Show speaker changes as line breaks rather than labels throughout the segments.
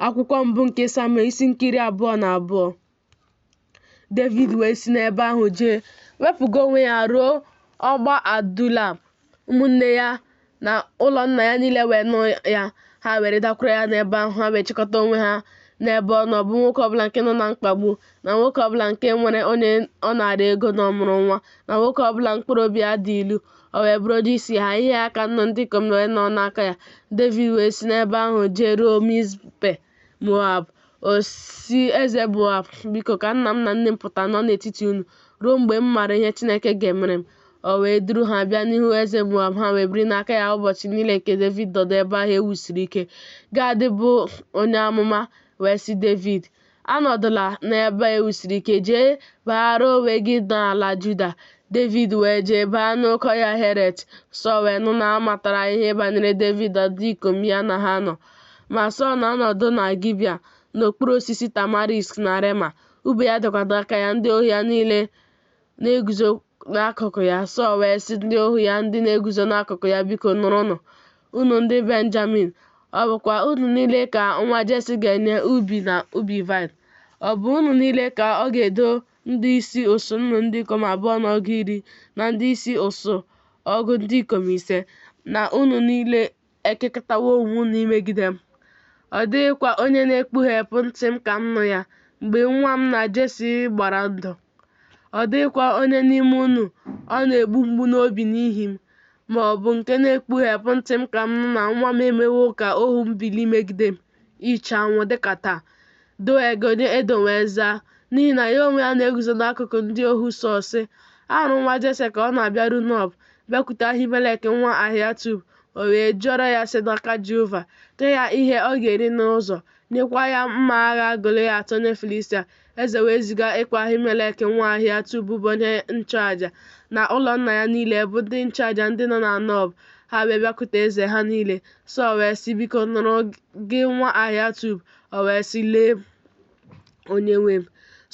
Akwụkwọ mbụ nke Samuel isi nke iri abụọ na abụọ. Devid wee si n'ebe ahụ jee wepụga onwe ya ruo ọgba Adulam. Ụmụnne ya na ụlọ nna ya niile wee nụ ya, ha wee ridakwuru ya n'ebe ahụ, ha wee chịkọta onwe ha n'ebe ọ nọ, bụ nwoke ọbụla nke nọ na mkpagbu na nwoke ọbụla nke nwere onye ọ naara ego n'ọmụrụ nwa na nwoke ọbụla mkpụrụ obi ya dị ilu o wee bụrụ onye isi ha ihe ha ka nnụ ndị ikom wee nọ n'aka ya Devid wee si n'ebe ahụ jee ruo Mizpe Moab ọ sị eze Moab biko ka nna m na nne m pụta nọ n'etiti unu ruo mgbe m maara ihe Chineke ga-emere m o wee duru ha bịa n'ihu eze Moab ha wee biri n'aka ya ụbọchị niile nke Devid nọdụ ebe ahụ e wusiri ike Gad bụ onye amụma wee sị Devid Anọdụla n'ebe e wusiri ike, jee baara onwe gị n'ala Juda. Devid wee jee baa n'oke ọhịa Heret. Sọl wee nụ na a matara ihe banyere Devid na ndị ikom ya na ha nọ. Ma Sọl na-anọdụ na Gibea n'okpuru osisi tamarisk na Rema, ube ya dịkwa n'aka ya, ndị ohu ya niile na-eguzo n'akụkụ ya. Sọl wee sị ndị ohu ya ndị na-eguzo n'akụkụ ya, Biko nụrụnụ, unu ndị Benjamin, ọ bụkwa unu niile ka nwa Jesi ga-enye ubi na ubi vaịn? Ọ bụ unu niile ka ọ ga-edo ndị isi usuu nnụ ndị ikom abụọ na ọgụ iri na ndị isi usuu ọgụ ndị ikom ise, na unu niile ekekọtawo onwe unu imegide m. Ọ dịghịkwa onye na-ekpughepụ ntị m ka m nụ ya mgbe nwa m na Jesi gbara ndụ. Ọ dịghịkwa onye n'ime unu ọ na-egbu mgbu n'obi n'ihi m, ma ọ bụ nke na-ekpughepụ ntị m ka m nụ na nwa m emewo ka ohu m bilie megide m. iche anwụ dịka taa Doeg onye Edọm wee zaa n'ihi na ya onwe ya na-eguzo n'akụkụ ndị ohu Sọl sị ahụrụ m nwa jese ka ọ na-abịaru Nob bịakwute ahimelek nwa ahiatub o wee jụọrọ ya ese n'aka jehova nye ya ihe ọ ga-eri n'ụzọ nyekwa ya mma agha goliat onye filistia Eze wee ziga ịkpọ Ahimelek nwa Ahiatub bụ onye nchụaja na ụlọ nna ya niile bụ ndị nchụaja ndị nọ na Nob. Ha wee bịakwute eze ha niile. Sọl wee sị, Biko nụrụ gị nwa Ahiatub. O wee sị, Lee, onyenwe m.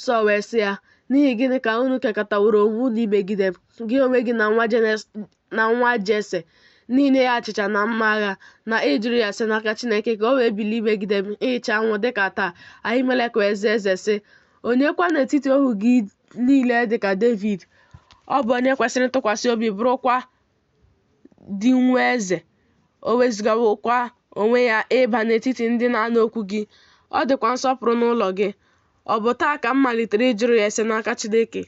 Sọl wee sị ya, N'ihi gịnị ka unu kekọtaworo onwe unu imegide m, gị onwe gị na nwa na nwa Jese, n'inye ya achịcha na mma agha, na ịjụrụ ya ese n'aka Chineke ka o wee bilie megide m ịcha anwụ dịka taa. Ahimelek wee zaa eze sị, Onye kwa n'etiti ohu gị niile dịka Devid, ọ bụ onye kwesịrị ntụkwasị obi bụrụkwa di nwa eze, o wezugawokwa onwe ya ịba n'etiti ndị na-anụ okwu gị, ọ dịkwa nsọpụrụ n'ụlọ gị. Ọ bụ taa ka m malitere ịjụrụ ya ese n'aka Chineke,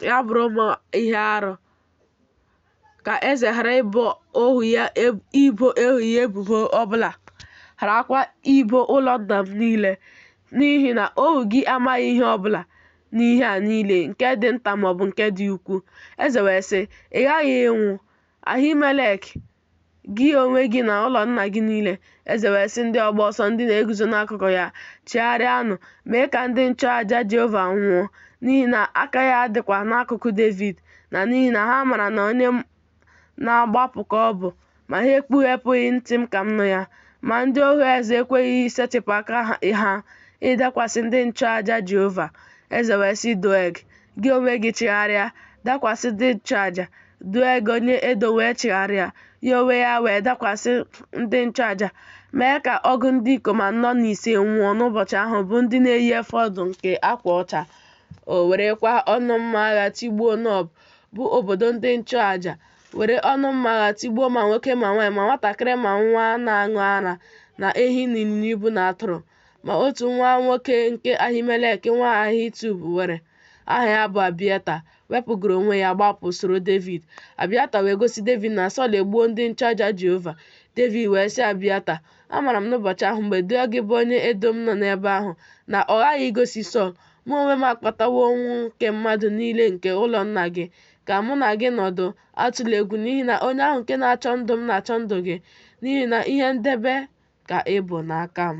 ya bụrụ m ihe arụ. ka eze ghara ibo ohu ya ebubo ọbụla gharakwa ibo ụlọ nna m niile n'ihi na ohu gị amaghị ihe ọbụla n'ihe a niile nke dị nta maọbụ nke dị ukwu eze wee sị ị ghaghị ịnwụ ahimelek Gị onwe gị na ụlọ nna gị niile. Eze wee sị ndị ọgba ọsọ ndị na-eguzo n'akụkụ ya, Chigharịanụ, mee ka ndị nchụaja Jehova nwụọ, n'ihi na aka ha dịkwa n'akụkụ Devid, na n'ihi na ha mara na onye na-agbapụ ka ọ bụ, ma ha ekpughepụghị ntị m ka m nụ ya. Ma ndị ohu eze ekweghị isetịpụ aka ha ịdakwasị ndị nchụaja Jehova. Eze wee sị Doeg, Gị onwe gị chigharịa, dakwasị ndị nchụaja. Doeg onye Edom wee chigharịa, ya onwe ya wee dakwasị ndị nchụaja, mee ka ọgụ ndị ikom anọ na ise nwụọ n'ụbọchị ahụ bụ ndị na-eyi efọd nke akwa ọcha. O werekwa ọnụ mma agha tigbuo Nob, bụ obodo ndị nchụaja, were ọnụ mma agha tigbuo ma nwoke ma nwaanyị ma nwatakịrị ma nwa na-aṅụ ara na ehi na ịnyịnya ibu na atụrụ. Ma otu nwa nwoke nke Ahimelek nwa Ahitub nwere, aha ya bụ Abiata, wepụgoro onwe ya gbapụ soro Devid. Abiata wee gosi Devid na Sọl egbuo ndị nchụaja Jehova. Devid wee sị Abiata, Amara m n'ụbọchị ahụ mgbe Doeg bụ onye Edom nọ n'ebe ahụ na ọ ghaghị igosi Sọl, mụ onwe m akpatawo ọnwụ nke mmadụ niile nke ụlọ nna gị, ka mụ na gị nọdụ Atụla egwu n'ihi na onye ahụ nke na-achọ ndụ m na-achọ ndụ gị, n'ihi na ihe ndebe ka ị bụ n'aka m.